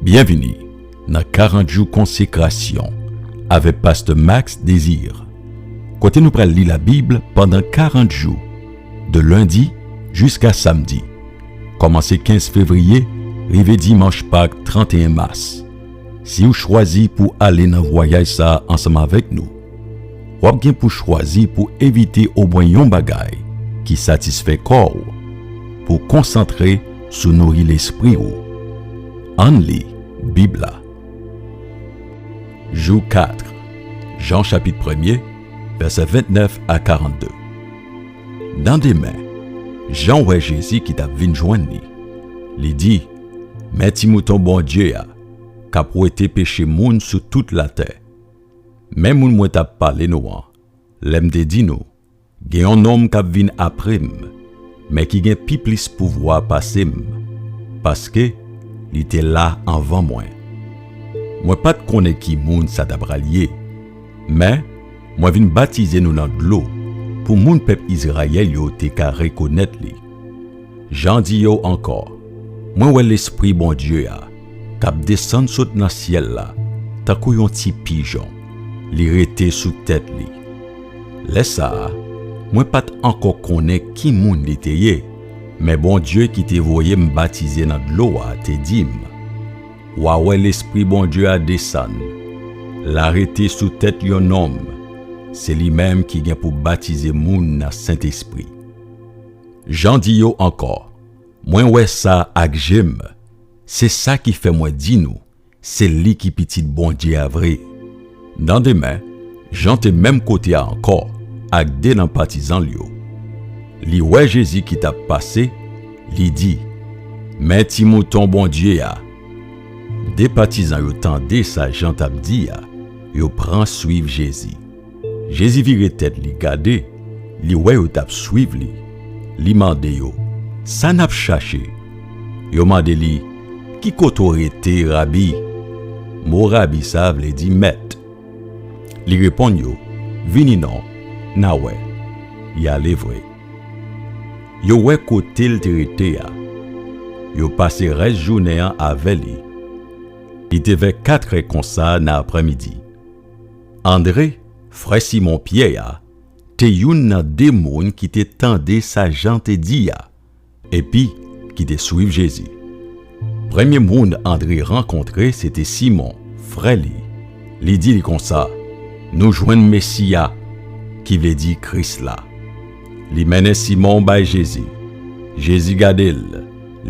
Byenvini nan 40 jou konsekrasyon avèk pastè Max Désir kote nou pral li labib pandan 40 jou de lendi jiska samdi kòmanse 15 fevriye rive dimanch pak 31 mas. Siw chwazi pou ale nan vwayaj sa ansanm avèk nou. W ap gen pou chwazi pou evite omwen yon bagay ki satisfè kò w pou konsantre sou nouri lespri w. Ann li Bib la. Jou 4, Jan chapit premye, vèsè 29 a 42 Nan demen, Jan wè Jezi ki t ap vin jwenn li. Li di, Men Ti Mouton Bondye a k ap wete peche moun sou tout latè. Men moun mwen t ap pale nou an, lè m te di nou, 'Gen yon nonm k ap vin apre m, men ki gen pi plis pouvwa pase m, paske, li te la anvan mwen. Mwen pa t konnen ki moun sa t apral ye, men, mwen vin batize nou nan dlo pou moun pèp Izrayèl yo te ka rekonèt li. Jan di yo ankò, mwen wè Lespri Bondye a k ap desann sot nan syèl la tankou yon ti pijon, li rete sou tèt li. Lè sa a, mwen pa t ankò konnen ki moun li te ye, men Bondye ki te voye m batize nan dlo a te di m, 'W a wè Lespri Bondye a desann, l a rete sou tèt yon nonm, se li menm ki gen pou batize moun nan Sentespri. Jan di yo ankò, mwen wè sa ak je m, se sa ki fè mwen di nou se li ki Pitit Bondye a vre. Nan demen, Jan te menm kote a ankò ak de nan patizan l yo. Li wè Jezi ki t ap pase, li di, Men Ti Mouton Bondye a! De patizan yo tande sa Jan t ap di a, yo pran suiv Jezi. Jezi vire tèt li gade, li wè yo t ap suiv li, li mande yo, Sa n ap chache? Yo mande li, Ki kote w rete, Rabi? Mo Rabi sa a vle di Mèt. Li reponn yo, Vini non, n a wè. Y ale vre. Yo wè kote l te rete a. Yo pase rès jounen an avè li. Li te vè katrè konsa nan aprèmidi. Andre, frè Simon Pyè a, te youn nan de moun ki te tande sa Jan te di a epi ki te suiv Jezi. Premye moun Andre rankontre se te Simon, frè li. Li di li konsa, Nou jwenn Mesi a, ki vle di Kris la. Li mennen Simon bay Jezi. Jezi gade l,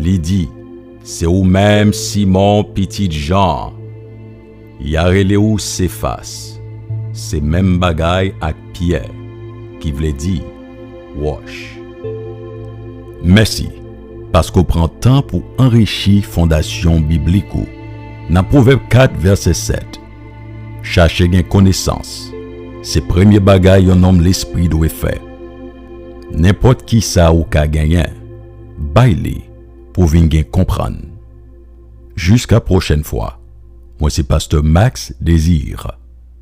li di, Se ou menm, Simon, pitit Jan an. Ya rele ou Sefas, se menm bagay ak Pyè, ki vle di, wòch. Mèsi paske w pran tan pou anrichi fondasyon biblik ou nan Pwovèb 4 vèsè 7. Chache gen konesans se premye bagay yon nonm lespri dwe fè. Nenpòt kisa ou ka genyen, bay li pou w vin gen konprann. Jiska prochèn fwa. Mwen se Pasteur Max Desir.